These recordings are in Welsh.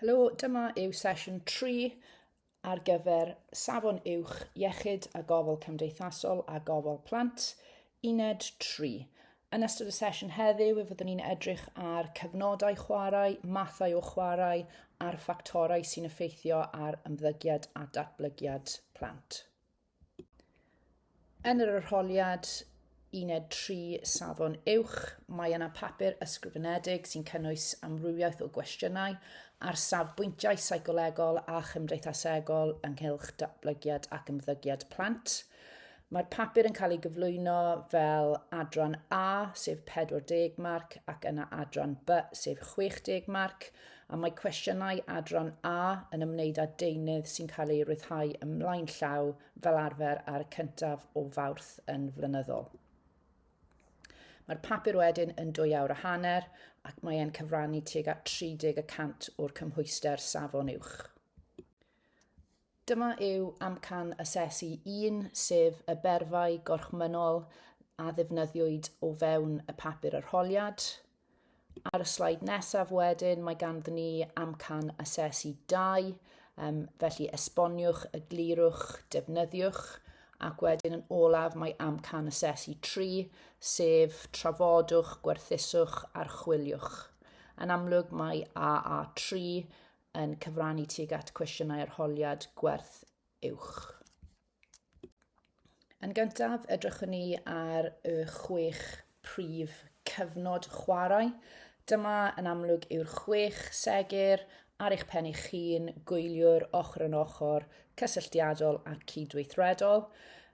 Helo, dyma yw sesiwn 3 ar gyfer Safon Uwch Iechyd a Gofal Cymdeithasol a Gofal Plant, uned 3. Yn ystod y sesiwn heddiw, fe fyddwn ni'n edrych ar cyfnodau chwarae, mathau o chwarae a'r ffactorau sy'n effeithio ar ymddygiad a datblygiad plant. Yn yr arholiad uned tri safon uwch, mae yna papur ysgrifenedig sy'n cynnwys amrywiaeth o gwestiynau ar safbwyntiau seicolegol a chymdeithasegol ynghylch datblygiad ac ymddygiad plant. Mae'r papur yn cael ei gyflwyno fel adran A, sef 40 marc, ac yna adran B, sef 60 marc. a mae cwestiynau adran A yn ymwneud â deunydd sy'n cael ei ryddhau ymlaen llaw fel arfer ar y cyntaf o Fawrth yn flynyddol. Mae'r papur wedyn yn dwy awr a hanner ac mae e'n cyfrannu tuag at 30 y cant o'r cymhwyster safon uwch. Dyma yw amcan asesu 1, sef y berfau gorchmynnol a ddefnyddiwyd o fewn y papur arholiad. Ar y sleid nesaf wedyn, mae ganddyn ni amcan asesu dau, um, felly esboniwch, eglurwch, defnyddiwch, ac wedyn yn olaf mae amcan asesu 3, sef trafodwch, gwerthuswch, archwiliwch. Yn amlwg mae AA3 yn cyfrannu tuag at cwestiynau arholiad gwerth uwch. Yn gyntaf, edrychwn ni ar y chwech prif cyfnod chwarae. Dyma yn amlwg yw'r chwech segur ar eich pen eich hun, gwyliwr ochr yn ochr, cysylltiadol a cydweithredol.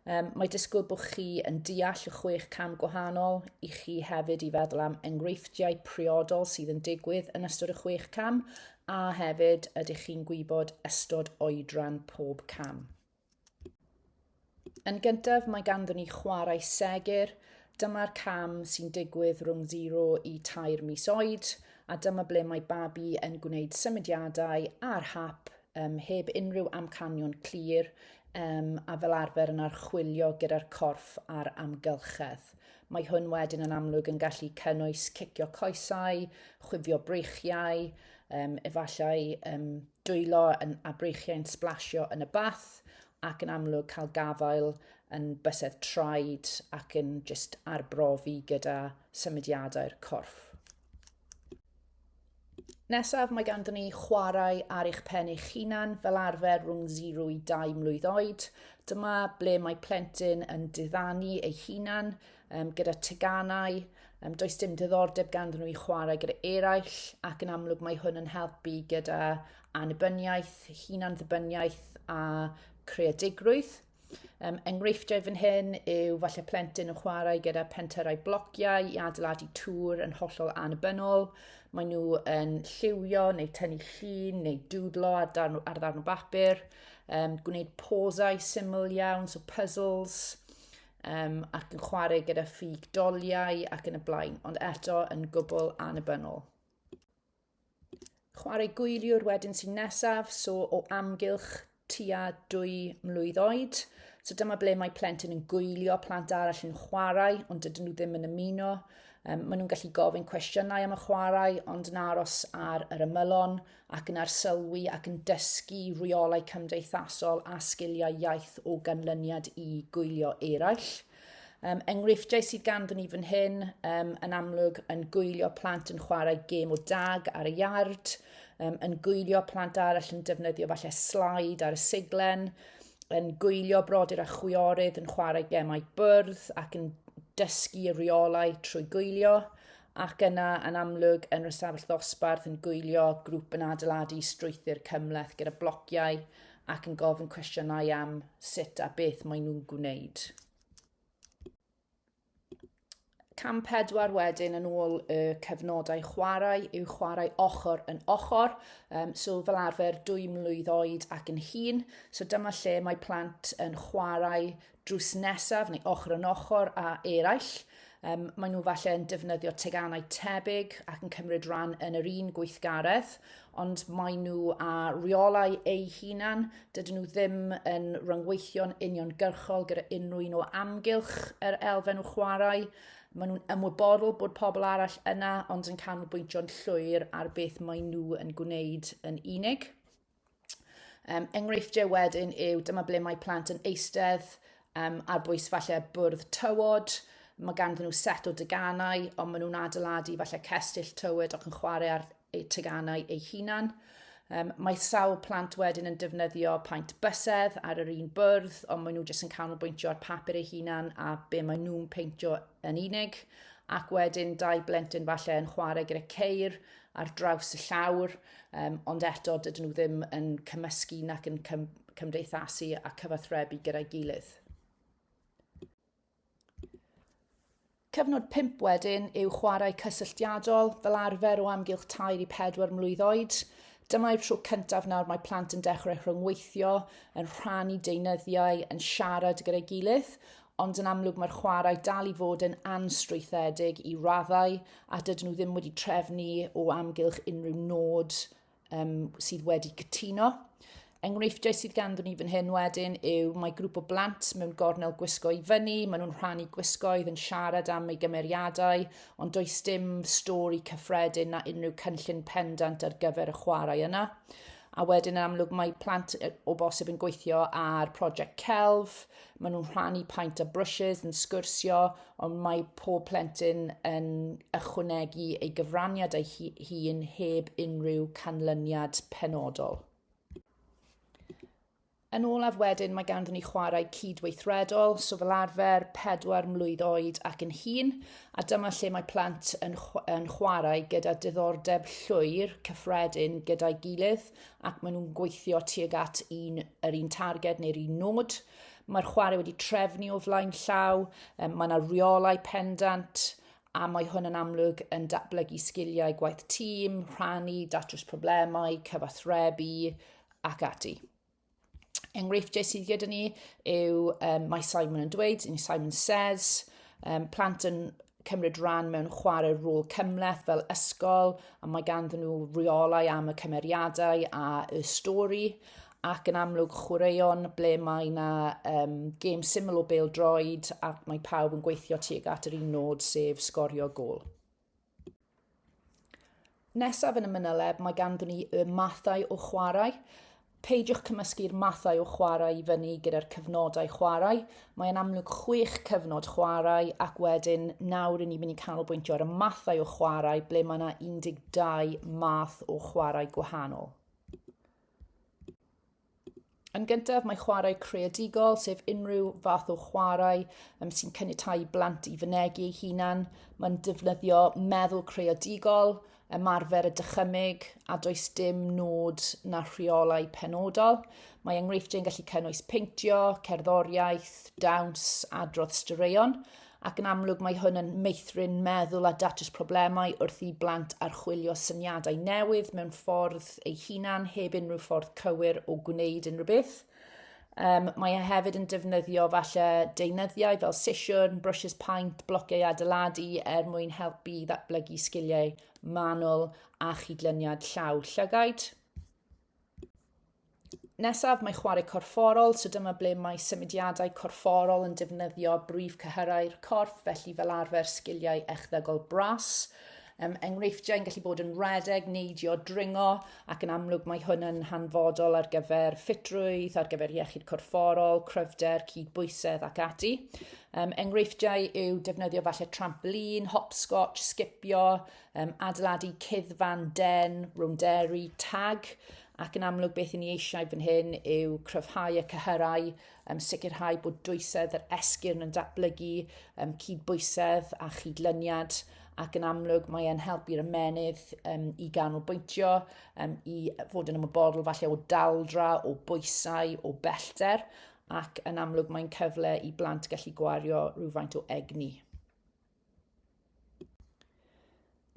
Um, mae disgwyl bod chi yn deall y chwech cam gwahanol i chi hefyd i feddwl am enghreifftiau priodol sydd yn digwydd yn ystod y chwech cam a hefyd ydych chi'n gwybod ystod oedran pob cam. Yn gyntaf, mae ganddyn ni chwarae segur. Dyma'r cam sy'n digwydd rhwng 0 i 3 mis oed, a dyma ble mae babi yn gwneud symudiadau ar hap um, heb unrhyw amcanion clir um, a fel arfer yn archwilio gyda'r corff a'r amgylchedd. Mae hwn wedyn yn amlwg yn gallu cynnwys cicio coesau, chwifio breichiau, um, efallai um, dwylo yn abreichiau'n sblasio yn y bath ac yn amlwg cael gafael yn bysedd traed ac yn just arbrofi gyda symudiadau'r corff. Nesaf, mae ganddyn ni chwarae ar eich pen eich hunan fel arfer rhwng 0 i 2 mlwydd oed. Dyma ble mae plentyn yn diddanu ei hunan um, gyda teganau, um, does dim diddordeb ganddyn nhw i chwarae gyda eraill, ac yn amlwg mae hwn yn helpu gyda anibyniaeth, hunan-ddibyniaeth a creadigrwydd. Um, enghreifftiau fan hyn yw falle plentyn yn chwarae gyda penterau blociau i adeiladu tŵr yn hollol anibynnol. Mae nhw yn lliwio neu tynnu llun neu dwdlo ar ddarn, ar ddarn o bapur, um, gwneud posau syml iawn, so puzzles, um, ac yn chwarae gyda ffug doliau ac yn y blaen, ond eto yn gwbl annibynnol. Chwarae gwyliwr wedyn sy'n nesaf, so o amgylch tua dwy mlwydd oed. So dyma ble mae plentyn yn gwylio plant arall yn chwarae, ond dydyn nhw ddim yn ymuno. Um, maen nhw'n gallu gofyn cwestiynau am y chwarae, ond yn aros ar yr ymylon, ac yn arsylwi ac yn dysgu rheolau cymdeithasol a sgiliau iaith o ganlyniad i gwylio eraill. Um, enghreifftiau sydd ganddyn ni fan hyn, um, yn amlwg yn gwylio plant yn chwarae gêm o dag ar y iard, um, yn gwylio plant arall yn defnyddio falle slaid ar y siglen, yn gwylio brodyr a chwiorydd yn chwarae gemau bwrdd ac yn dysgu y rheolau trwy gwylio, ac yna yn amlwg yn yr ystafell ddosbarth yn gwylio grŵp yn adeiladu strwythur cymleth gyda blociau ac yn gofyn cwestiynau am sut a beth maen nhw'n gwneud. Cam pedwar wedyn yn ôl y cyfnodau chwarae yw chwarae ochr yn ochr, um, so fel arfer dwy mlwydd oed ac yn hun. So dyma lle mae plant yn chwarae drws nesaf neu ochr yn ochr a eraill. Um, maen nhw falle yn defnyddio teganau tebyg ac yn cymryd rhan yn yr un gweithgaredd, ond maen nhw a rheolau eu hunan, dydyn nhw ddim yn rhyngweithio'n uniongyrchol gyda unrhyw un o amgylch yr elfen o chwarae. Maen nhw'n ymwybodol bod pobl arall yna, ond yn canolbwyntio'n llwyr ar beth maen nhw yn gwneud yn unig. Um, enghreifftiau wedyn yw dyma ble mae plant yn eistedd um, ar bwys falle bwrdd tywod, mae ganddyn nhw set o deganau, ond maen nhw'n adeiladu falle cestyll tywod ac yn chwarae ar eu teganau eu hunan. Um, mae sawl plant wedyn yn defnyddio paent bysedd ar yr un bwrdd, ond maen nhw jyst yn canolbwyntio ar papur eu hunan a be maen nhw'n peintio yn unig. Ac wedyn dau blentyn falle yn chwarae gyda ceir ar draws y llawr, um, ond eto dydyn nhw ddim yn cymysgu nac yn cym cymdeithasu a cyfathrebu gyda'i gilydd. Cyfnod 5 wedyn yw chwarae cysylltiadol, fel arfer o amgylch 3 i 4 mlwydd oed. Dyma'r tro cyntaf nawr mae plant yn dechrau rhyngweithio, yn rhannu deunyddiau, yn siarad gyda'i gilydd, ond yn amlwg mae'r chwarae dal i fod yn anstrwythedig i raddau a dydyn nhw ddim wedi trefnu o amgylch unrhyw nod um, sydd wedi cytuno. Enghreifftiau sydd ganddyn ni fan hyn wedyn yw mae grŵp o blant mewn gornel gwisgo i fyny, maen nhw'n rhannu gwisgoedd yn siarad am ei gymeriadau, ond does dim stori cyffredin na unrhyw cynllun pendant ar gyfer y chwarae yna. A wedyn yn amlwg mae plant o bosib yn gweithio ar prosiect celf, maen nhw'n rhannu paint a brushes, yn sgwrsio, ond mae pob plentyn yn ychwanegu ei gyfraniad ei hun heb unrhyw canlyniad penodol. Yn olaf wedyn, mae ganddyn ni chwarae cydweithredol, so fel arfer, pedwar mlwydd oed ac yn hun, a dyma lle mae plant yn, yn chwarae gyda diddordeb llwyr cyffredin gyda'i gilydd, ac maen nhw'n gweithio tuag at un, yr un targed neu'r un nod. Mae'r chwarae wedi trefnu o flaen llaw, um, mae yna rheolau pendant, a mae hwn yn amlwg yn datblygu sgiliau gwaith tîm, rhannu, datrys problemau, cyfathrebu ac ati. enghreifftiau sydd gyda ni yw, um, mae Simon yn dweud, neu Simon says, um, plant yn cymryd rhan mewn chwarae rôl cymleth fel ysgol, a mae ganddyn nhw rheolau am y cymeriadau a y stori, ac yn amlwg chwaraeon ble mae yna um, gêm syml o bel droed ac mae pawb yn gweithio tuag at yr un nod sef sgorio gol. Nesaf yn y mynyleb mae ganddyn ni y mathau o chwarae. Peidiwch cymysgu'r mathau o chwarae i fyny gyda'r cyfnodau chwarae. Mae'n amlwg chwech cyfnod chwarae ac wedyn nawr ni'n mynd i canolbwyntio ar y mathau o chwarae ble mae yna 12 math o chwarae gwahanol. Yn gyntaf, mae chwarae creadigol, sef unrhyw fath o chwarae um, sy'n caniatau blant i fynegi ei hunan. Mae'n defnyddio meddwl creadigol, ymarfer y dychymyg, a does dim nod na rheolau penodol. Mae enghreifftiau'n gallu cynnwys peintio, cerddoriaeth, dawns, adrodd straeon. ac yn amlwg mae hwn yn meithrin meddwl a datrys problemau wrth i blant archwilio syniadau newydd mewn ffordd ei hunan heb unrhyw ffordd cywir o gwneud unrhyw beth. Um, mae e hefyd yn defnyddio falle deunyddiau fel sesiwn, brwsys paent, blociau adeiladu er mwyn helpu i ddatblygu sgiliau manwl a chydlyniad llaw llygaid. Nesaf mae chwarae corfforol, so dyma ble mae symudiadau corfforol yn defnyddio brif cyhyrau'r corff, felly fel arfer sgiliau echddygol bras. Um, enghreifftiau yn gallu bod yn redeg, neidio, dringo, ac yn amlwg mae hwn yn hanfodol ar gyfer ffitrwydd, ar gyfer iechyd corfforol, cryfder, cydbwysedd ac ati. Um, enghreifftiau yw defnyddio falle trampolin, hopscotch, sgipio, um, adeiladu cyddfan den, rownderi, tag, ac yn amlwg beth i ni eisiau fan hyn yw cryfhau y cyhyrau, um, sicrhau bod dwysedd yr esgyrn yn datblygu, um, cydbwysedd a chydlyniad, ac yn amlwg mae e'n helpu'r ymenydd um, i ganolbwyntio, um, i fod yn ymwybodol falle o daldra, o bwysau, o bellter, ac yn amlwg mae'n cyfle i blant gallu gwario rhywfaint o egni.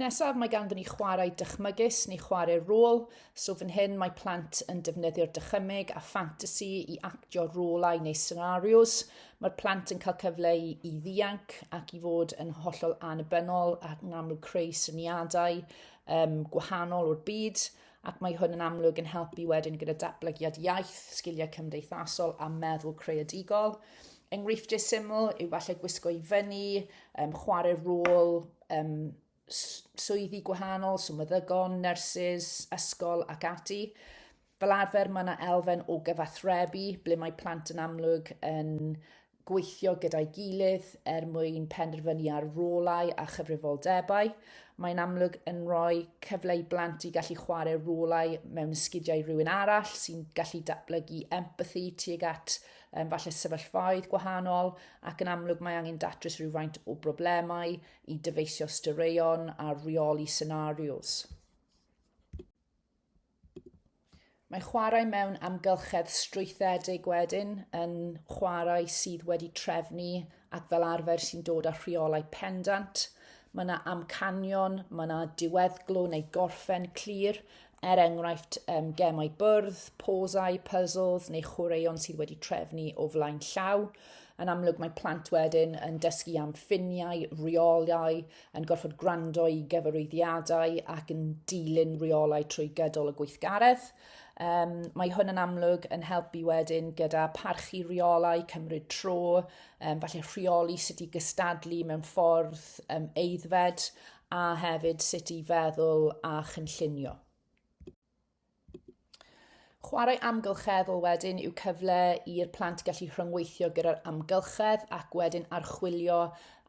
Nesaf mae ganddyn ni chwarae dychmygus neu chwarae rôl, so fan hyn mae plant yn defnyddio'r dychymyg a ffantasi i actio rolau neu scenarios. Mae'r plant yn cael cyfle i, i ddianc ac i fod yn hollol annibynnol ac yn amlwg creu syniadau um, gwahanol o'r byd. ac mae hwn yn amlwg yn helpu wedyn gyda datblygiad iaith, sgiliau cymdeithasol a meddwl creadigol. Enghreifftiau syml yw falle gwisgo i fyny, um, chwarae rôl um, swyddi gwahanol, swmeddygon, nyrsys, ysgol ac ati. Fel arfer mae yna elfen o gyfathrebu ble mae plant yn amlwg yn gweithio gyda'i gilydd er mwyn penderfynu ar rolau a chyfrifoldebau. Mae'n amlwg yn rhoi cyfle i blant i gallu chwarae rolau mewn ysgidiau rhywun arall sy'n gallu datblygu empathi tuag at um, falle sefyllfaoedd gwahanol ac yn amlwg mae angen datrys rhywfaint o broblemau i dyfeisio styreion a reoli senarios. Mae chwarae mewn amgylchedd strwythedig wedyn yn chwarae sydd wedi trefnu ac fel arfer sy'n dod â rheolau pendant. Mae yna amcanion, mae yna diweddglo neu gorffen clir, er enghraifft um, gemau bwrdd, posau, puzzles neu chwaraeon sydd wedi trefnu o flaen llaw. Yn amlwg mae plant wedyn yn dysgu am ffiniau, rheolau, yn gorfod gwrando i gyfarwyddiadau ac yn dilyn rheolau trwy gydol y gweithgaredd. Um, mae hwn yn amlwg yn helpu wedyn gyda parchu rheolau, cymryd tro, um, falle rheoli sut i gystadlu mewn ffordd um, eiddfed a hefyd sut i feddwl a chynllunio. Chwarae amgylcheddol wedyn yw cyfle i'r plant gallu rhyngweithio gyda'r amgylchedd ac wedyn archwilio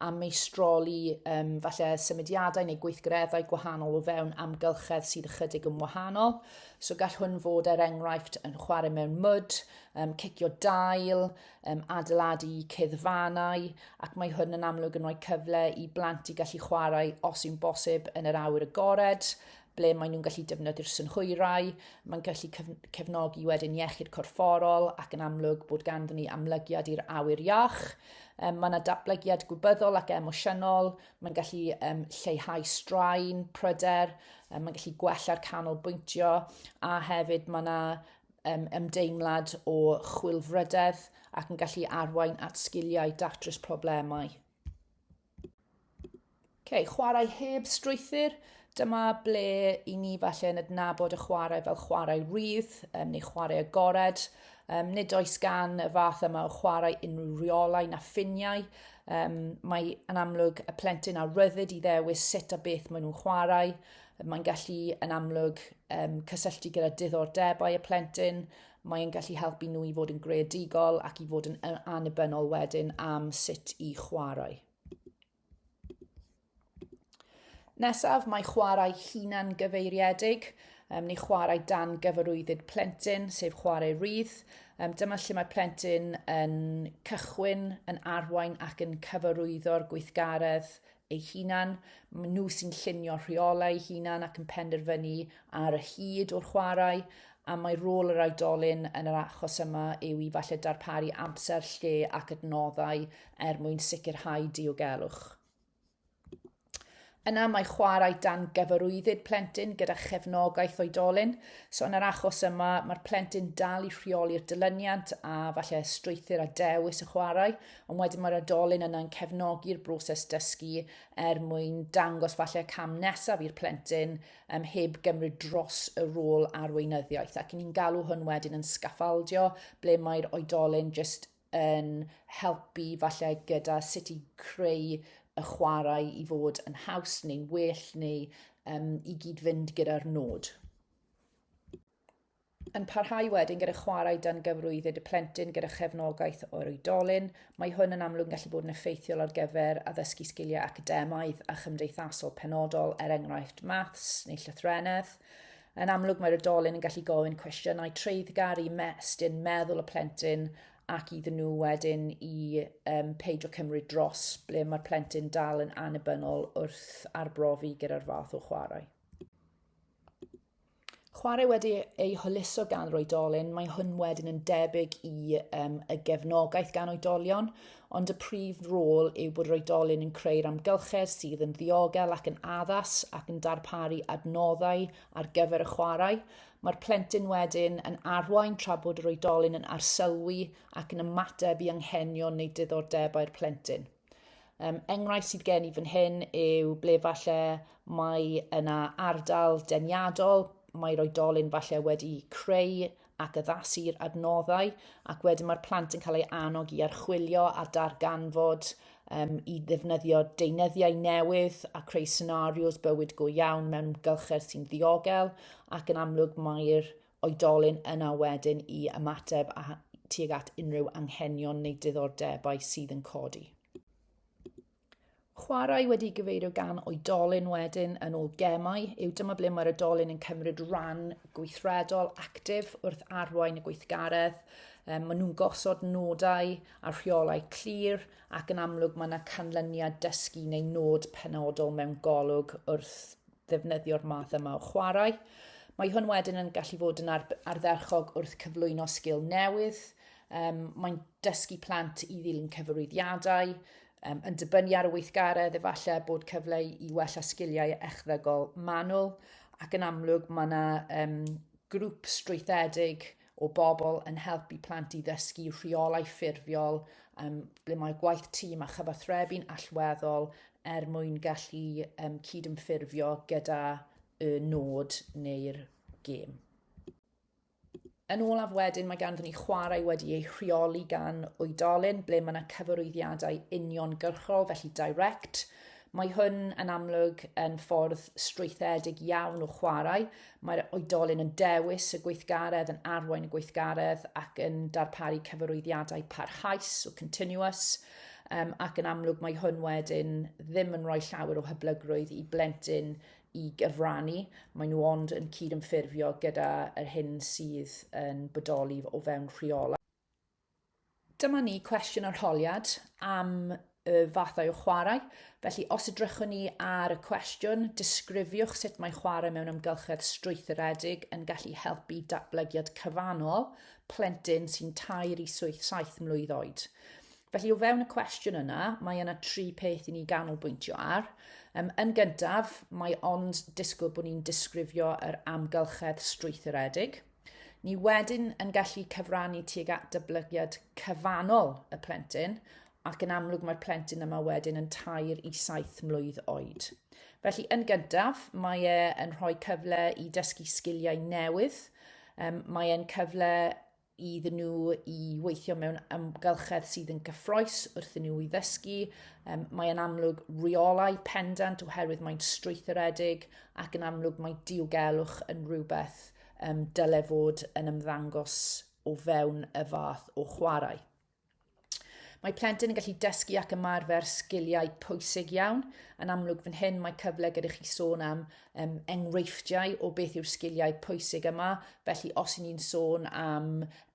a meistroli um, falle symudiadau neu gweithgareddau gwahanol o fewn amgylchedd sydd ychydig yn wahanol. So gall hwn fod er enghraifft yn chwarae mewn mwd, um, cicio dail, um, adeiladu ceddfanau, ac mae hwn yn amlwg yn rhoi cyfle i blant i gallu chwarae os yw'n bosib yn yr awyr agored, ble maen nhw'n gallu defnyddio'r synhwyrau, mae'n gallu cefnogi wedyn iechyd corfforol ac yn amlwg bod ganddyn ni amlygiad i'r awyr iach. Um, mae yna datblygiad gwybyddol ac emosiynol, mae'n gallu um, lleihau straen, pryder, um, mae'n gallu gwella'r canolbwyntio a hefyd mae yna um, ymdeimlad o chwilfrydedd ac yn gallu arwain at sgiliau datrys problemau. Ok, chwarae heb strwythyr. Dyma ble i ni falle yn adnabod y chwarae fel chwarae rydd um, neu chwarae agored. Um, nid oes gan y fath yma o chwarae unrhyw riolau na ffiniau. Um, mae yn amlwg y plentyn a ryddid i ddewis sut a beth maen nhw'n chwarae. Mae'n gallu yn amlwg um, cysylltu gyda diddordebau y plentyn Mae'n gallu helpu nhw i fod yn greadigol ac i fod yn annibynnol wedyn am sut i chwarae. Nesaf, mae chwarae hunan gyfeiriedig um, neu chwarae dan gyfarwyddyd plentyn, sef chwarae rydd. Um, dyma lle mae plentyn yn cychwyn, yn arwain ac yn cyfarwyddo'r gweithgaredd eu hunan, maen nhw sy'n llunio rheolau eu hunan ac yn penderfynu ar y hyd o'r chwarae, a mae rôl yr oedolyn yn yr achos yma yw i falle darparu amser, lle ac adnoddau er mwyn sicrhau diogelwch. Yna mae chwarae dan gyfarwyddyd plentyn gyda chefnogaeth oedolyn. So yn yr achos yma, mae'r plentyn dal i rheoli'r dilyniant a falle strwythyr a dewis y chwarae, Ond wedyn mae'r adolyn yna'n cefnogi'r broses dysgu er mwyn dangos falle cam nesaf i'r plentyn um, heb gymryd dros y rôl a'r weinyddiaeth. Ac ni'n galw hwn wedyn yn sgaffaldio, ble mae'r oedolyn jyst yn helpu falle gyda sut i creu y chwarae i fod yn haws neu'n well neu um, i gyd-fynd gyda'r nod. Yn parhau wedyn gyda chwarae dan gyfrwyddyd y plentyn gyda chefnogaeth o'r oedolyn, mae hwn yn amlwg yn gallu bod yn effeithiol ar gyfer addysgu sgiliau academaidd a chymdeithasol penodol, er enghraifft maths neu llythrennedd. Yn amlwg mae'r oedolyn yn gallu gofyn cwestiynau treiddgar i mestyn meddwl y plentyn ac iddyn nhw wedyn i um, peidio cymryd dros ble mae'r plentyn dal yn annibynnol wrth arbrofi gyda'r fath o chwarae. Chwarae wedi ei hwyluso gan yr oedolyn, mae hwn wedyn yn debyg i um, y gefnogaeth gan oedolion, ond y prif rôl yw bod yr oedolyn yn creu'r amgylchedd sydd yn ddiogel ac yn addas ac yn darparu adnoddau ar gyfer y chwarae. Mae'r plentyn wedyn yn arwain tra bod yr oedolyn yn arsylwi ac yn ymateb i anghenion neu diddordebau'r plentyn. Um, enghraifft sydd gen i fan hyn yw ble falle mae yna ardal deniadol, mae'r oedolyn falle wedi creu ac addasu'r adnoddau, ac wedyn mae'r plant yn cael ei annog i archwilio a darganfod um, i ddefnyddio deunyddiau newydd a creu scenarios bywyd go iawn mewn gylchedd sy'n ddiogel, ac yn amlwg mae'r oedolyn yna wedyn i ymateb a, tuag at unrhyw anghenion neu diddordebau sydd yn codi. Chwarae wedi gyfeirio gan oedolyn wedyn yn ôl gemau yw dyma ble mae'r oedolyn yn cymryd rhan gweithredol actif wrth arwain y gweithgaredd. Um, maen nhw'n gosod nodau a rheolau clir ac yn amlwg mae yna canlyniad dysgu neu nod penodol mewn golwg wrth ddefnyddio'r math yma o chwarae. Mae hwn wedyn yn gallu fod yn ardderchog wrth cyflwyno sgil newydd. Um, mae'n dysgu plant i ddilyn cyfarwyddiadau, um, yn dibynnu ar y weithgaredd, efallai bod cyfle i wella sgiliau echddygol manwl, ac yn amlwg mae yna um, grŵp strwythedig o bobl yn helpu plant i ddysgu rheolau ffurfiol, um, ble mae gwaith tîm a chyfathrebu'n allweddol er mwyn gallu um, cydymffurfio gyda y nod neu'r gêm. Yn olaf wedyn mae ganddyn ni chwarae wedi ei rheoli gan oedolyn ble mae yna cyfarwyddiadau uniongyrchol, felly direct. Mae hwn yn amlwg yn ffordd strwythedig iawn o chwarae, Mae'r oedolyn yn dewis y gweithgaredd, yn arwain y gweithgaredd ac yn darparu cyfarwyddiadau parhaus o continuous um, ac yn amlwg mae hwn wedyn ddim yn rhoi llawer o hyblygrwydd i blentyn i gyfrannu. Mae nhw ond yn cyd-ymffurfio gyda'r hyn sydd yn bodoli o fewn rheolau. Dyma ni cwestiwn arholiad am y fathau o chwarae. Felly, os edrychwn ni ar y cwestiwn, disgrifiwch sut mae chwarae mewn amgylchedd strwythuredig yn gallu helpu datblygiad cyfannol plentyn sy'n tair i saith mlwydd oed. Felly, o fewn y cwestiwn yna, mae yna tri peth i ni ganolbwyntio ar. Um, yn gyntaf, mae ond disgwyl bod ni'n disgrifio yr amgylchedd strwythuredig – Ni wedyn yn gallu cyfrannu tuag at dyblygiad cyfannol y plentyn, ac yn amlwg mae'r plentyn yma wedyn yn tair i saith mlwydd oed. Felly, yn gyntaf, mae e yn rhoi cyfle i dysgu sgiliau newydd, um, mae e'n cyfle iddyn nhw i weithio mewn amgylchedd sydd yn gyffroes wrth nhw i ddysgu. Um, mae e'n amlwg rheolau pendant oherwydd mae'n strwythuredig ac yn amlwg mae diogelwch yn rhywbeth um, dyle fod yn ymddangos o fewn y fath o chwarae. Mae plentyn yn gallu dysgu ac ymarfer sgiliau pwysig iawn. Yn amlwg fan hyn mae cyfle gyda chi sôn am um, enghreifftiau o beth yw'r sgiliau pwysig yma. Felly os ni'n sôn am,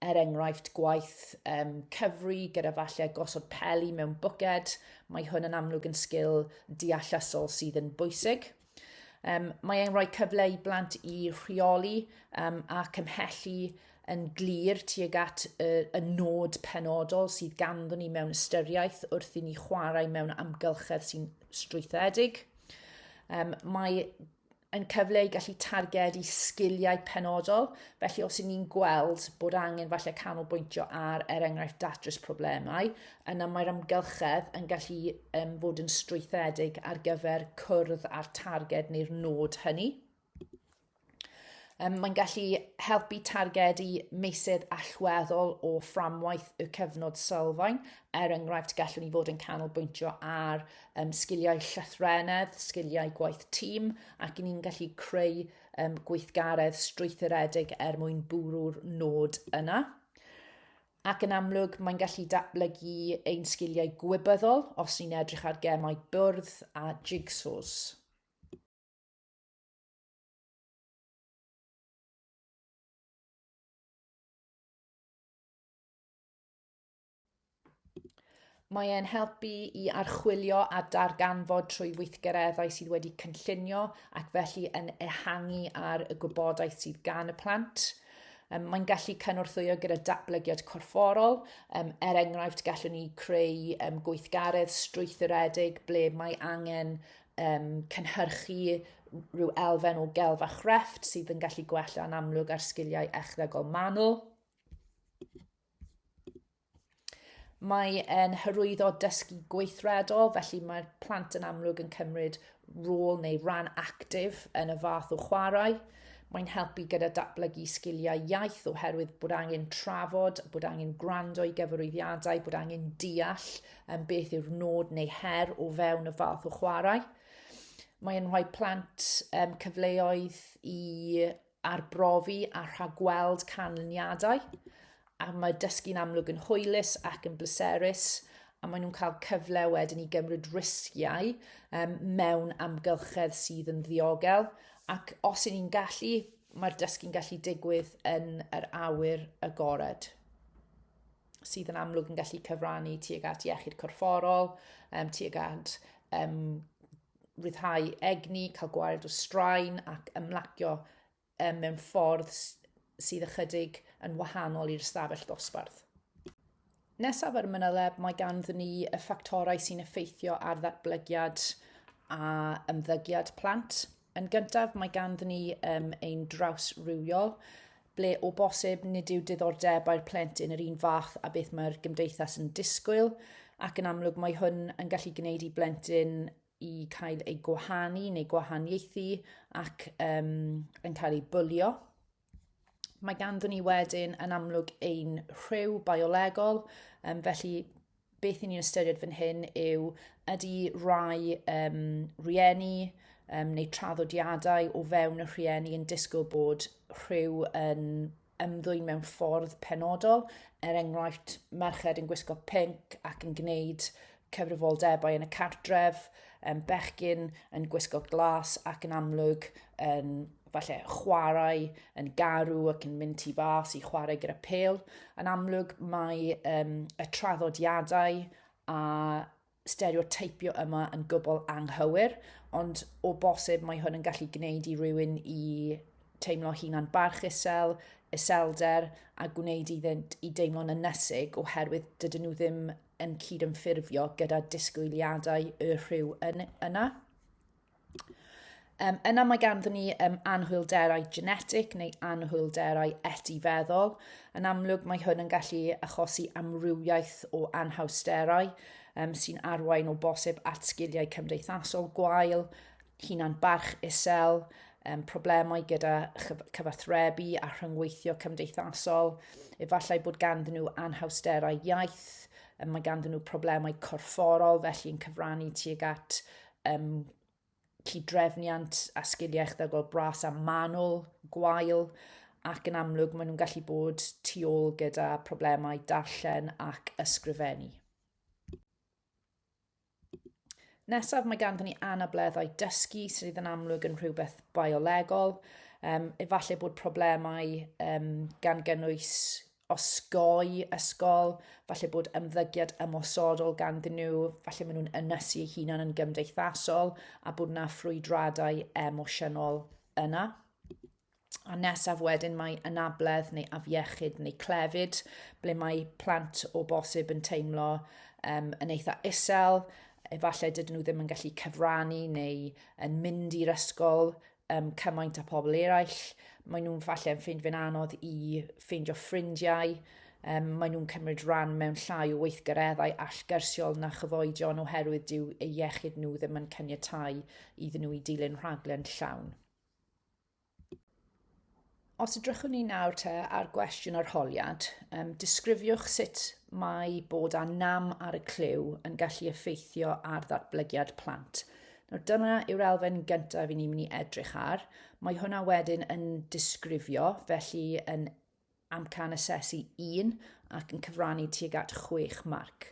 er enghraifft, gwaith um, cyfri gyda falle gosod peli mewn bwced, mae hwn yn amlwg yn sgil deallasol sydd yn bwysig. Um, mae e'n rhoi cyfle i blant i rheoli um, a cymhellu yn glir tuag at y, y nod penodol sydd ganddyn ni mewn ystyriaeth wrth i ni chwarae mewn amgylchedd sy'n strwythedig. Um, mae yn cyfle i gallu targedu sgiliau penodol, felly os y'n ni'n gweld bod angen falle canolbwyntio ar, er enghraifft, datrys problemau, Yna mae'r amgylchedd yn gallu um, fod yn strwythedig ar gyfer cwrdd â'r targed neu'r nod hynny. Um, mae'n gallu helpu targedu meysydd allweddol o fframwaith y cyfnod sylfaen. Er enghraifft, gallwn ni fod yn canolbwyntio ar um, sgiliau llythrenedd, sgiliau gwaith tîm, ac ni'n gallu creu um, gweithgaredd strwythuredig er mwyn bwrw'r nod yna. ac yn amlwg mae'n gallu datblygu ein sgiliau gwybyddol os ni'n edrych ar gemau bwrdd a jigsaws. Mae e'n helpu i archwilio a darganfod trwy weithgareddau sydd wedi cynllunio ac felly yn ehangu ar y gwybodaeth sydd gan y plant. Um, mae'n gallu cynorthwyo gyda datblygiad corfforol. Um, er enghraifft, gallwn ni creu um, gweithgaredd strwythuredig ble mae angen um, cynhyrchu rhyw elfen o gelf a chrefft sydd yn gallu gwella yn amlwg ar sgiliau echddegol manwl. Mae e'n hyrwyddo dysgu gweithredol, felly mae'r plant yn amlwg yn cymryd rôl neu ran actif yn y fath o chwarae. Mae'n helpu gyda datblygu sgiliau iaith oherwydd bod angen trafod, bod angen gwrando i gyfarwyddiadau, bod angen deall yn beth yw'r nod neu her o fewn y fath o chwarae. Mae'n rhoi plant um, cyfleoedd i arbrofi a rhagweld canlyniadau, a mae dysgu'n amlwg yn hwylus ac yn bleserus, a maen nhw'n cael cyfle wedyn i gymryd risgiau um, mewn amgylchedd sydd yn ddiogel, ac os y'n ni'n gallu, mae'r dysgu'n gallu digwydd yn yr awyr agored sydd yn amlwg yn gallu cyfrannu tuag at iechyd corfforol, um, tuag at um, rhyddhau egni, cael gwael o straen ac ymlacio um, mewn ffordd sydd ychydig yn wahanol i'r ystafell ddosbarth. Nesaf ar y mynyleb, mae ganddyn ni y ffactorau sy'n effeithio ar ddatblygiad a ymddygiad plant. Yn gyntaf, mae ganddyn ni um, ein draws rhywiol, ble o bosib nid yw diddordebau'r plentyn yr un fath a beth mae'r gymdeithas yn disgwyl, ac yn amlwg mae hwn yn gallu gwneud i blentyn i cael ei gwahanu neu gwahaniaethu ac um, yn cael ei bwlio. Mae ganddyn ni wedyn yn amlwg ein rhyw biolegol, um, felly beth i ni'n ystyried fan hyn yw ydy rai um, rieni um, neu traddodiadau o fewn y rhieni yn disgwyl bod rhyw yn ymddwyn mewn ffordd penodol, er enghraifft merched yn gwisgo pink ac yn gwneud cyfrifoldebau yn y cartref, um, bechgyn yn gwisgo glas ac yn amlwg yn falle chwarae yn garw ac yn mynd tu fas i chwarae gyda pel. Yn amlwg mae um, y traddodiadau a stereotypio yma yn gwbl anghywir, ond o bosib mae hwn yn gallu gwneud i rywun i teimlo hunan barch isel, iselder, a gwneud iddynt i deimlo'n ynnysig oherwydd dydyn nhw ddim yn cydymffurfio gyda disgwyliadau y rhyw yn, yna. Um, yna mae ganddyn ni um, anhwylderau genetic neu anhwylderau etifeddol. Yn amlwg mae hwn yn gallu achosi amrywiaeth o anhawsterau um, sy'n arwain o bosib at sgiliau cymdeithasol gwael, hunan barch isel, um, problemau gyda cyfathrebu a rhyngweithio cymdeithasol, efallai bod ganddyn nhw anhawsterau iaith, mae ganddyn nhw problemau corfforol felly yn cyfrannu tuag at um, cydrefniant a sgiliau echddygol bras a manwl, gwael, ac yn amlwg maen nhw'n gallu bod tu ôl gyda problemau darllen ac ysgrifennu. Nesaf mae ganddyn ni anableddau dysgu sydd yn amlwg yn rhywbeth biolegol. Um, efallai bod problemau um, gan gynnwys osgoi ysgol, falle bod ymddygiad ymosodol ganddyn nhw, falle maen nhw'n ynysu eu hunan yn gymdeithasol a bod yna ffrwydradau emosiynol yna. A nesaf wedyn mae anabledd neu afiechyd neu clefyd, ble mae plant o bosib yn teimlo um, yn eitha isel, efallai dydyn nhw ddim yn gallu cyfrannu neu yn mynd i'r ysgol um, cymaint â pobl eraill. Maen nhw'n falle yn ffeind fe'n anodd i ffeindio ffrindiau. Um, maen nhw'n cymryd rhan mewn llai o weithgareddau allgyrsiol na chyfoedion oherwydd dyw ei iechyd nhw ddim yn cyniatau iddyn nhw i dilyn rhaglen llawn. Os ydrychwn ni nawr te ar gwestiwn arholiad, um, disgrifiwch sut mae bod â nam ar y clyw yn gallu effeithio ar ddatblygiad plant. Nawr dyna yw'r elfen gyntaf i ni'n mynd i edrych ar. Mae hwnna wedyn yn disgrifio, felly yn amcan asesu 1 ac yn cyfrannu tuag at 6 marc.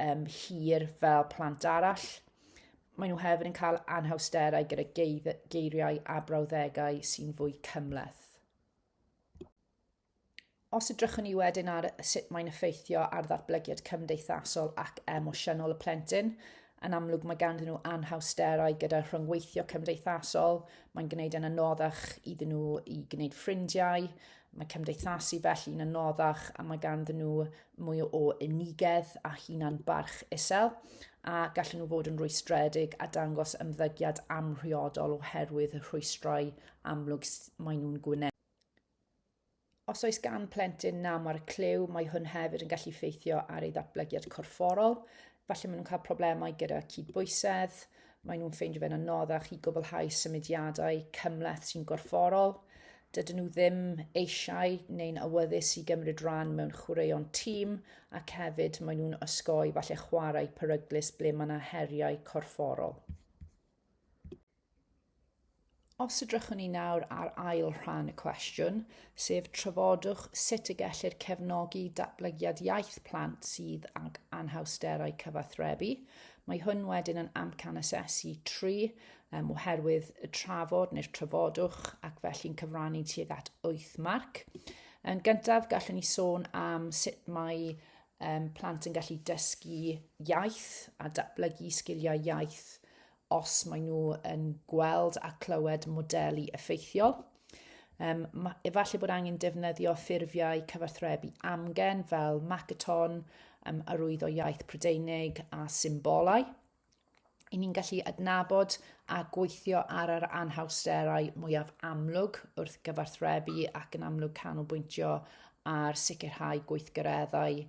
um, hir fel plant arall. Maen nhw hefyd yn cael anhawsterau gyda geiriau a brawddegau sy'n fwy cymleth. Os ydrychwn ni wedyn ar sut mae'n effeithio ar ddatblygiad cymdeithasol ac emosiynol y plentyn, yn amlwg mae ganddyn nhw anhawsterau gyda rhyngweithio cymdeithasol, mae'n gwneud yn anoddach iddyn nhw i gwneud ffrindiau, Mae cymdeithasu felly'n anoddach a mae ganddyn nhw mwy o unigedd a hunan barch isel a gallen nhw fod yn rwystredig a dangos ymddygiad amhriodol oherwydd y rhwystrau amlwg maen nhw'n gwneud. Os oes gan plentyn nam ar y clyw, mae hwn hefyd yn gallu ffeithio ar ei ddatblygiad corfforol, Falle maen nhw'n cael problemau gyda cydbwysedd, maen nhw'n ffeindio fe'n anoddach i gwblhau symudiadau cymleth sy'n gorfforol, dydyn nhw ddim eisiau neu'n awyddus i gymryd rhan mewn chwaraeon tîm ac hefyd maen nhw'n osgoi falle chwarae peryglus ble mae yna heriau corfforol. Os edrychwn ni nawr ar ail rhan y cwestiwn, sef trafodwch sut y gellir cefnogi datblygiad iaith plant sydd ag anhawsterau cyfathrebu, mae hwn wedyn yn amcan asesu 3 um, oherwydd y trafod neu'r trafodwch ac felly'n cyfrannu tuag at 8 marc. Yn gyntaf, gallwn ni sôn am sut mae um, plant yn gallu dysgu iaith a datblygu sgiliau iaith os maen nhw yn gweld a clywed modelu effeithiol. Um, efallai bod angen defnyddio ffurfiau cyfathrebu amgen fel Macaton, um, arwyddo iaith Prydeinig a symbolau. I ni'n gallu adnabod a gweithio ar yr anhawsterau mwyaf amlwg wrth gyfathrebu ac yn amlwg canolbwyntio ar sicrhau gweithgareddau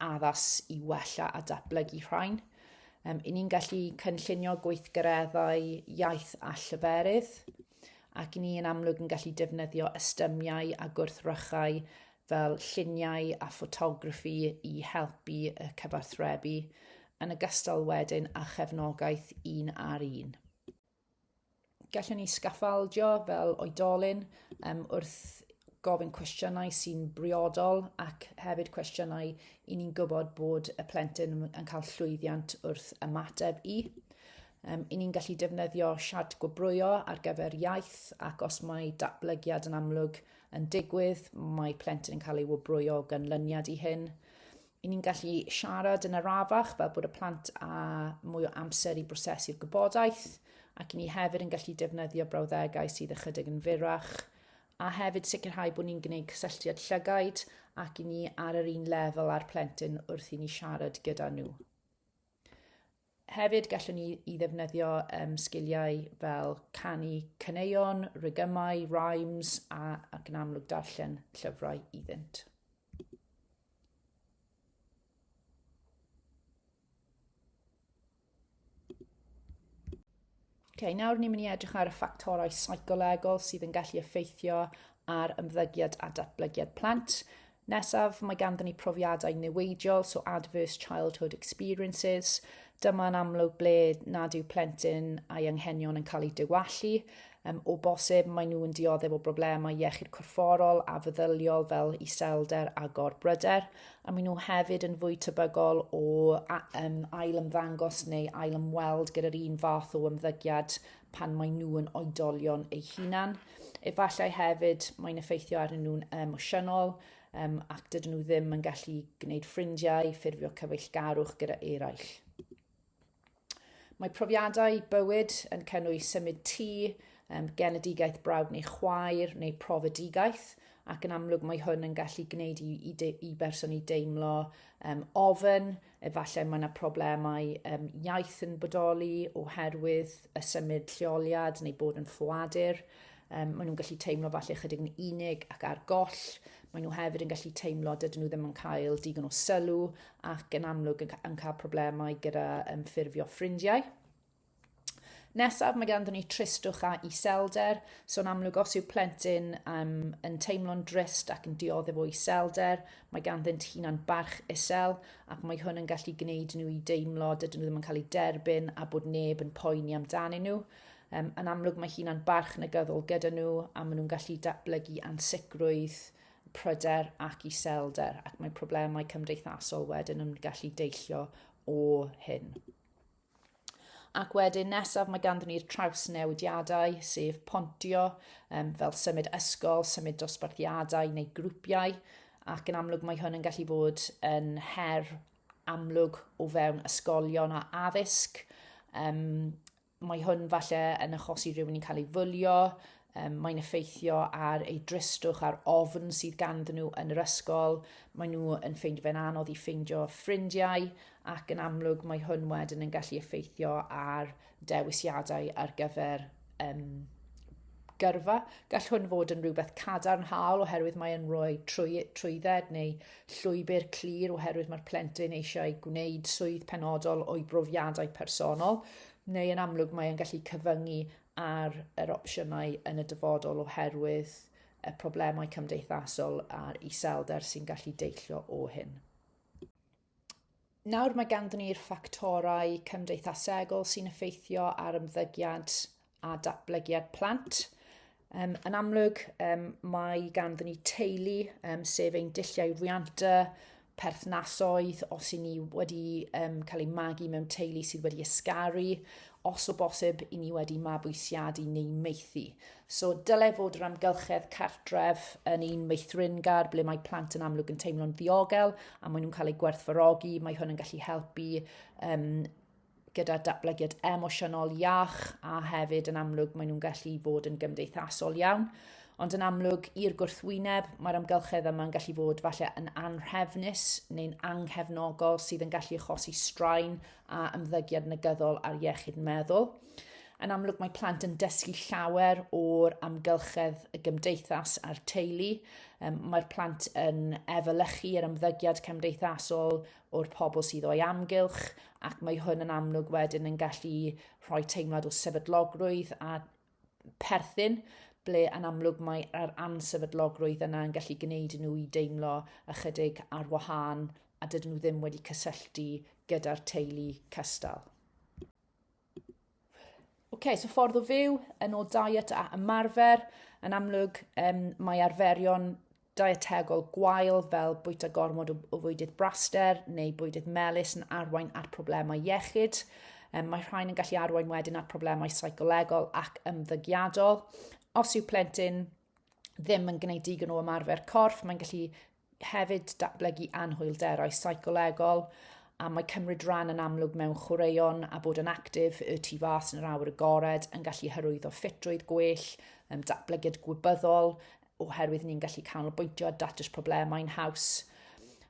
addas i wella a datblygu rhain. Um, I ni'n gallu cynllunio gweithgareddau iaith a llyferydd, ac i ni yn amlwg yn gallu defnyddio ystymiau a gwrthrychau fel lluniau a ffotograffi i helpu y cyfathrebu, yn ogystal wedyn â chefnogaeth un ar un. gallwn ni sgaffaldio fel oedolyn um, wrth gofyn cwestiynau sy'n briodol ac hefyd cwestiynau i ni'n gwybod bod y plentyn yn cael llwyddiant wrth ymateb i. Um, I ni'n gallu defnyddio siart gwobrwyo ar gyfer iaith ac os mae datblygiad yn amlwg yn digwydd, mae plentyn yn cael ei wobrwyo o ganlyniad i hyn. i ni'n gallu siarad yn arafach fel bod y plant a mwy o amser i brosesu'r gwybodaeth ac i ni hefyd yn gallu defnyddio brawddegau sydd ychydig yn fyrrach a hefyd sicrhau bod ni'n gwneud cysylltiad llygaid ac i ni ar yr un lefel â'r plentyn wrth i ni siarad gyda nhw. Hefyd, gallwn ni i ddefnyddio um, sgiliau fel canu caneuon, rygymau, rhymes a, ac yn amlwg darllen llyfrau iddynt. Okay, nawr ni'n mynd i edrych ar y ffactorau seicolegol sydd yn gallu effeithio ar ymddygiad a datblygiad plant. Nesaf, mae ganddyn ni profiadau newidiol, so adverse childhood experiences. Dyma'n amlwg ble nad yw plentyn a'i anghenion yn cael eu diwallu. Um, o bosib, maen nhw'n dioddef o broblemau iechyd corfforol a feddyliol fel iselder a gorbryder, a maen nhw hefyd yn fwy tebygol o um, ail ymddangos neu ail ymweld gyda'r un fath o ymddygiad pan maen nhw yn oedolion eu hunan. Efallai hefyd mae'n effeithio arnyn nhw'n emosiynol um, ac dydyn nhw ddim yn gallu gwneud ffrindiau, ffurfio cyfeillgarwch gyda eraill. Mae profiadau bywyd yn cynnwys symud tŷ, um, genedigaeth brawd neu chwaer neu profedigaeth, ac yn amlwg mae hwn yn gallu gwneud i, i, de, i berson i deimlo um, ofyn, efallai mae yna problemau um, iaith yn bodoli oherwydd y symud lleoliad neu bod yn ffoadur. Um, maen nhw'n gallu teimlo falle chydig yn unig ac ar goll. Maen nhw hefyd yn gallu teimlo dydyn nhw ddim yn cael digon o sylw ac yn amlwg yn, yn cael problemau gyda um, ffurfio ffrindiau. Nesaf, mae ganddyn ni tristwch a iselder. So, yn amlwg, os yw plentyn um, yn teimlo'n drist ac yn dioddef o iselder, mae ganddynt hunan barch isel, ac mae hwn yn gallu gwneud nhw i deimlo dydyn nhw ddim yn cael eu derbyn a bod neb yn poeni amdanyn nhw. Um, yn amlwg, mae hunan barch negyddol gyda nhw a maen nhw'n gallu datblygu ansicrwydd pryder ac iselder ac mae problemau cymdeithasol wedyn yn gallu deillio o hyn. Ac wedyn nesaf mae ganddyn ni'r traws newidiadau, sef pontio, um, fel symud ysgol, symud dosbarthiadau neu grwpiau, ac yn amlwg mae hwn yn gallu bod yn her amlwg o fewn ysgolion a addysg, um, Mae hwn falle yn achosi rhywun i'n cael ei fwlio, um, mae'n effeithio ar ei dristwch a'r ofn sydd ganddyn nhw yn yr ysgol, maen nhw yn ffeindio fe'n anodd i ffeindio ffrindiau ac yn amlwg mae hwn wedyn yn gallu effeithio ar dewisiadau ar gyfer um, gyrfa. Gall hwn fod yn rhywbeth cadarnhaol oherwydd mae'n rhoi trwy, trwydded neu llwybr clir oherwydd mae'r plentyn eisiau gwneud swydd penodol o'i brofiadau personol, neu yn amlwg mae'n gallu cyfyngu ar yr opsiynau yn y dyfodol oherwydd y problemau cymdeithasol a'r iselder sy'n gallu deillio o hyn. Nawr mae ganddyn ni'r ffactorau cymdeithasegol sy'n effeithio ar ymddygiad a datblygiad plant. Um, yn amlwg, um, mae ganddyn ni teulu, um, sef ein dilliau rhianta, perthnasoedd, os i ni wedi um, cael ei magu mewn teulu sydd wedi ysgaru, os o bosib i ni wedi mabwysiadu neu meithi. So dylai fod yr amgylchedd cartref yn un meithringar ble mae plant yn amlwg yn teimlo'n ddiogel a maen nhw'n cael eu gwerthfarogi. Mae hwn yn gallu helpu um, gyda datblygiad emosiynol iach a hefyd yn amlwg maen nhw'n gallu bod yn gymdeithasol iawn. Ond yn amlwg, i'r gwrthwyneb, mae'r amgylchedd yma'n gallu fod falle yn anrhefnus neu'n anghefnogol sydd yn gallu achosi straen a ymddygiad negyddol ar iechyd meddwl. Yn amlwg mae plant yn dysgu llawer o'r amgylchedd y gymdeithas a'r teulu. Um, mae'r plant yn efelychu yr ymddygiad cymdeithasol o'r pobl sydd o'i amgylch ac mae hwn yn amlwg wedyn yn gallu rhoi teimlad o sefydlogrwydd a perthyn ble yn amlwg mae'r ansefydlogrwydd yna yn gallu gwneud i nhw i deimlo ychydig ar wahân a dydyn nhw ddim wedi cysylltu gyda'r teulu cystal. okay, so ffordd o fyw, yn ôl diet a ymarfer, yn amlwg um, mae arferion dietegol gwael fel bwyta gormod o, o fwydydd braster neu bwydydd melus yn arwain at problemau iechyd. Um, mae rhain yn gallu arwain wedyn at problemau seicolegol ac ymddygiadol. Os yw plentyn ddim yn gwneud digon o ymarfer corff, mae'n gallu hefyd datblygu anhwylderau seicolegol, a mae cymryd rhan yn amlwg mewn chwaraeon a bod yn actif y tu fas yn yr awyr agored yn gallu hyrwyddo ffitrwydd gwell, um, datblygiad gwybyddol, oherwydd ni'n gallu canolbwyntio a datrys problemau'n haws.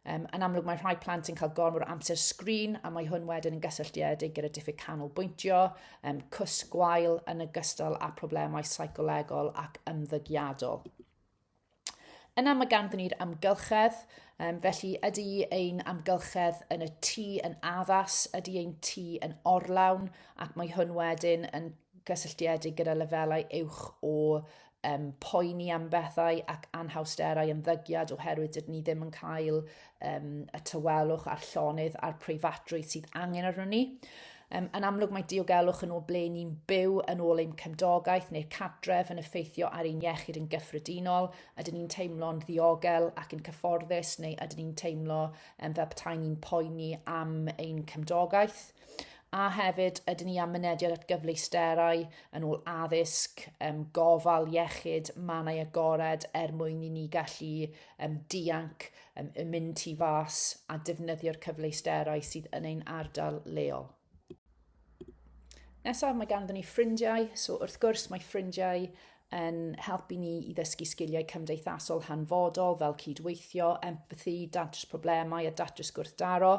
Um, yn amlwg mae rhai plant yn cael gormod o amser sgrin a mae hwn wedyn yn gysylltiedig gyda diffyg canolbwyntio, um, cwsg gwael yn y gystal â problemau seicolegol ac ymddygiadol. Yna mae ganddyn ni'r amgylchedd, um, felly ydy ein amgylchedd yn y tŷ yn addas, ydy ein tŷ yn orlawn, ac mae hwn wedyn yn gysylltiedig gyda lefelau uwch o um, poeni am bethau ac anhawsterau ymddygiad oherwydd dydyn ni ddim yn cael um, y tywelwch a'r llonydd a'r preifatrwydd sydd angen arno ni. Um, yn amlwg mae diogelwch yn ôl ble ni'n byw yn ôl ein cymdogaeth neu'r catref yn effeithio ar ein iechyd yn gyffredinol. Ydyn ni'n teimlo'n ddiogel ac yn cyfforddus neu ydyn ni'n teimlo um, fel petai ni'n poeni am ein cymdogaeth? A hefyd, ydyn ni am mynediad at gyfleusterau yn ôl addysg, um, gofal iechyd, mannau agored er mwyn i ni gallu um, dianc um, y mynd tu fas a defnyddio'r cyfleusterau sydd yn ein ardal leol. Nesaf, mae ganddyn ni ffrindiau, so wrth gwrs mae ffrindiau yn helpu ni i ddysgu sgiliau cymdeithasol hanfodol fel cydweithio, empathi, datrys problemau a datrys gwrthdaro.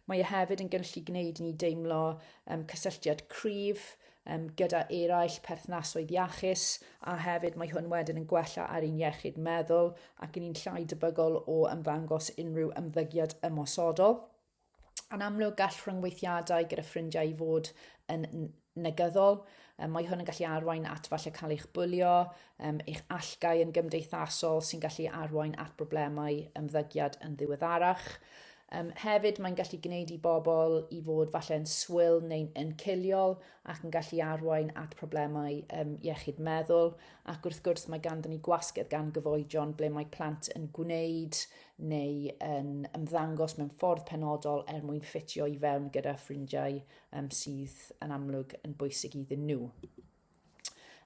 Mae e hefyd yn gallu gwneud i ni deimlo um, cysylltiad cryf um, gyda eraill, perthnasoedd iachus, a hefyd mae hwn wedyn yn gwella ar ein iechyd meddwl ac yn ni'n llai debygol o ymddangos unrhyw ymddygiad ymosodol. Yn amlwg, gall rhyngweithiadau gyda ffrindiau i fod yn negyddol. Um, mae hwn yn gallu arwain at falle cael eich bwlio, um, eich allgau yn gymdeithasol sy'n gallu arwain at broblemau ymddygiad yn ddiweddarach. Yym, hefyd, mae'n gallu gwneud i bobl i fod falle yn swil neu'n yn ciliol ac yn gallu arwain at problemau um, iechyd meddwl. Ac wrth gwrs, mae ganddyn ni gwasgedd gan gyfoedion ble mae plant yn gwneud neu yn ymddangos mewn ffordd penodol er mwyn ffitio i fewn gyda ffrindiau um, sydd yn amlwg yn bwysig iddyn nhw.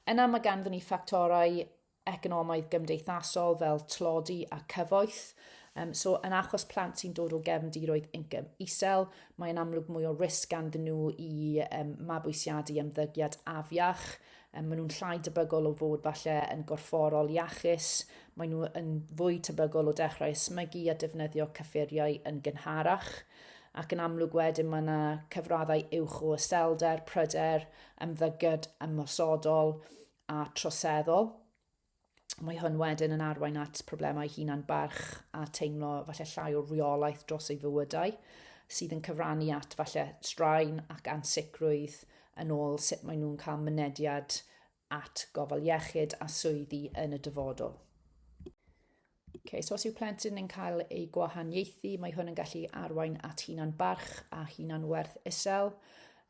Yna mae ganddyn ni ffactorau economaidd gymdeithasol fel tlodi a cyfoeth. Um, so, yn achos plant sy'n dod o gefndiroedd incwm isel, mae'n amlwg mwy o risg ganddyn nhw i um, mabwysiadu ymddygiad afiach. Um, maen nhw'n llai debygol o fod falle yn gorfforol iachus. Maen nhw yn fwy tebygol o dechrau ysmygu a defnyddio cyffuriau yn gynharach ac yn amlwg wedyn mae yna cyfraddau uwch o yselder, pryder, ymddygiad ymosodol a troseddol. Mae hwn wedyn yn arwain at problemau hunan barch a teimlo falle llai o reolaeth dros ei fywydau, sydd yn cyfrannu at falle straen ac ansicrwydd yn ôl sut maen nhw'n cael mynediad at gofal iechyd a swyddi yn y dyfodol. Okay, so os yw plentyn yn cael ei gwahaniaethu, mae hwn yn gallu arwain at hunan barch a hunan werth isel.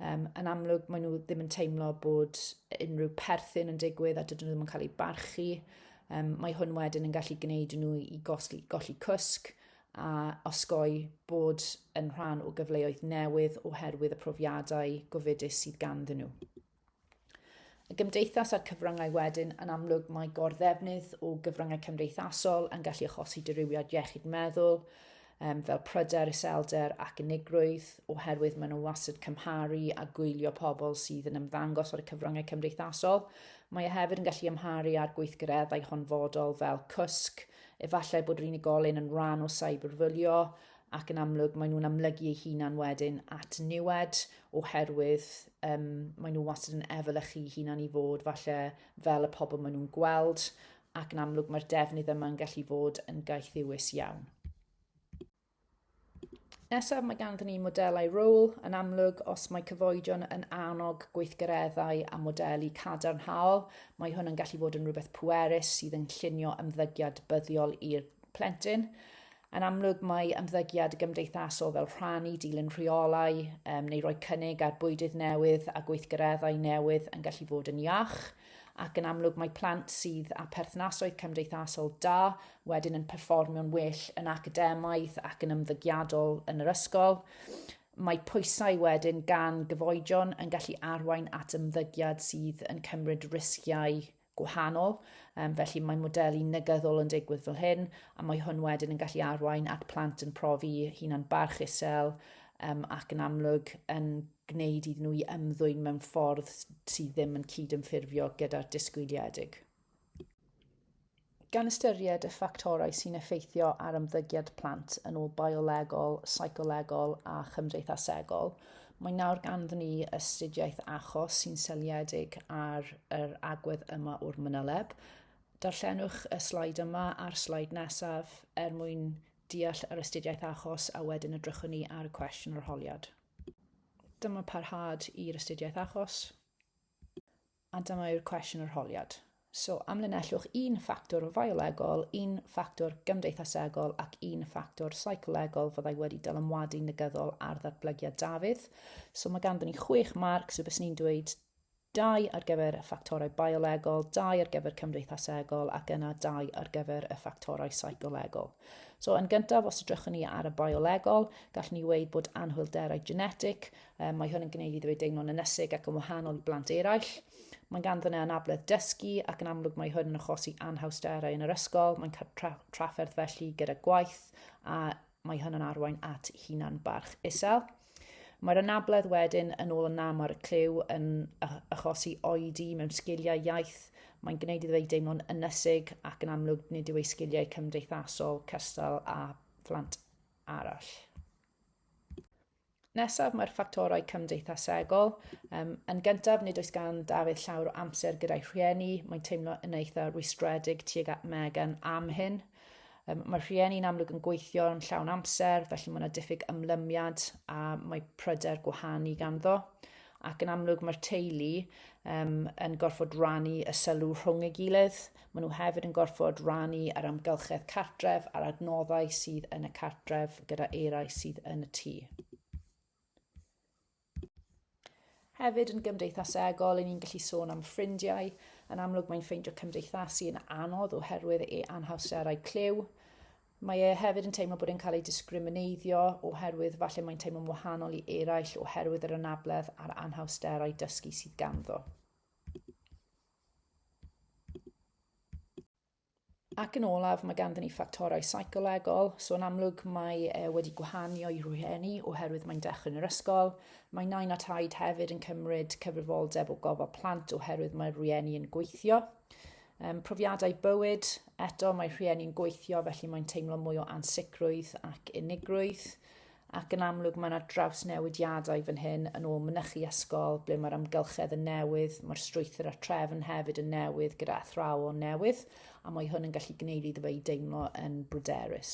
Um, yn amlwg, maen nhw ddim yn teimlo bod unrhyw perthyn yn digwydd a dydyn nhw ddim yn cael eu barchu. Um, mae hwn wedyn yn gallu gwneud nhw i gosli, golli cwsg a osgoi bod yn rhan o gyfleoedd newydd oherwydd y profiadau gofidus sydd ganddyn nhw. Y gymdeithas a'r cyfryngau wedyn, yn amlwg mae gorddefnydd o gyfryngau cymdeithasol yn gallu achosi dirywiad iechyd meddwl, um, fel pryder, iselder ac unigrwydd, oherwydd maen nhw wastad cymharu a gwylio pobl sydd yn ymddangos ar y cyfryngau cymdeithasol. Mae e hefyd yn gallu ymharu â'r gweithgareddau honfodol fel cwsg, efallai bod yr unigolyn yn rhan o cyberfwlio, ac yn amlwg maen nhw'n amlygu eu hunan wedyn at niwed oherwydd um, maen nhw wastad yn efelychu hunan i fod falle fel y pobl maen nhw'n gweld, ac yn amlwg mae'r defnydd yma'n gallu fod yn gaethiwus iawn. Nesaf mae ganddyn ni modelau rôl yn amlwg os mae cyfoedion yn annog gweithgareddau a modelu cadarnhaol, mae hwn yn gallu fod yn rhywbeth pwerus sydd yn llunio ymddygiad buddiol i'r plentyn. Yn amlwg, mae ymddygiad gymdeithasol fel rhannu, dilyn rheolau um, neu roi cynnig ar bwydydd newydd a gweithgareddau newydd yn gallu fod yn iach ac yn amlwg mae plant sydd â perthnasoedd cymdeithasol da wedyn yn perfformio'n well yn academaidd ac yn ymddygiadol yn yr ysgol. Mae pwysau wedyn gan gyfoedion yn gallu arwain at ymddygiad sydd yn cymryd risgiau gwahanol, um, felly mae modelu negyddol yn digwydd fel hyn, a mae hwn wedyn yn gallu arwain at plant yn profi hunan barch isel um, ac yn amlwg yn gwneud iddyn nhw i ymddwyn mewn ffordd sydd ddim yn cyd-ymffurfio gyda'r disgwyliedig. Gan ystyried y ffactorau sy'n effeithio ar ymddygiad plant yn ôl biolegol, seicolegol a chymdeithasegol, mae nawr ganddyn ni astudiaeth achos sy'n seiliedig ar yr agwedd yma o'r manyleb. Darllenwch y slaid yma a'r slaid nesaf er mwyn deall yr astudiaeth achos a wedyn edrychwn ni ar y cwestiwn arholiad. Dyma parhad i'r astudiaeth achos. A dyma yw'r cwestiwn arholiad. So, amlinellwch un ffactor fiolegol, un ffactor gymdeithasegol ac un ffactor seicolegol fyddai wedi dylanwadu negyddol ar ddatblygiad Dafydd. So mae ganddyn ni chwech marc, so bys ni'n dweud dau ar gyfer y ffactorau biolegol, dau ar gyfer cymdeithasegol ac yna dau ar gyfer y ffactorau seicolegol. So yn gyntaf, os ydrychwn ni ar y biolegol, gallwn ni weid bod anhwylderau genetig Um, mae hwn yn gwneud iddo ei deimlo'n ynesig ac yn wahanol i blant eraill. Mae gan ddyna anabledd dysgu ac yn amlwg mae hwn yn achosi anhawsterau yn yr ysgol. Mae'n tra trafferth felly gyda gwaith a mae hwn yn arwain at hunan barch isel. Mae'r anabledd wedyn yn ôl yn am ar y clyw yn achosi oedi mewn sgiliau iaith. Mae'n gwneud iddo ei deimlo'n ynesig ac yn amlwg nid yw ei sgiliau cymdeithasol cystal â phlant arall. Nesaf, mae'r ffactorau cymdeithasegol. Um, yn gyntaf, nid oes gan Dafydd llawer o amser gyda'i rhieni. Mae'n teimlo yn eitha rwystredig tuag at Megan am hyn. Um, mae rhieni'n amlwg yn gweithio yn llawn amser, felly mae yna diffyg ymlymiad a mae pryder gwahanu ganddo. Ac yn amlwg mae'r teulu um, yn gorfod rannu y sylw rhwng ei gilydd, Maen nhw hefyd yn gorfod rannu yr amgylchedd cartref a'r adnoddau sydd yn y cartref gyda eraill sydd yn y tŷ. Hefyd yn gymdeithasegol, ni'n gallu sôn am ffrindiau. Yn amlwg mae'n ffeindio cymdeithasu yn anodd oherwydd ei anhawsterau clyw. Mae e hefyd yn teimlo bod e'n cael ei discrimineiddio oherwydd falle mae'n teimlo'n wahanol i eraill oherwydd yr anabledd a'r anhawsterau dysgu sydd ganddo. Ac yn olaf, mae ganddyn ni ffactorau seicolegol, so yn amlwg mae e wedi gwahanio i rhieni oherwydd mae'n dechrau yn yr ysgol. Mae nain a taid hefyd yn cymryd cyfrifoldeb o gofal plant oherwydd mae'r rhieni yn gweithio. Um, profiadau bywyd, eto mae rhieni'n gweithio felly mae'n teimlo mwy o ansicrwydd ac unigrwydd. ac yn amlwg mae yna drawsnewidiadau fan hyn yn ôl mynychu ysgol ble mae'r amgylchedd yn newydd, mae'r strwythur a'r trefn hefyd yn newydd gyda athrawon newydd a mae hwn yn gallu gwneud iddo fe i deimlo yn bryderus.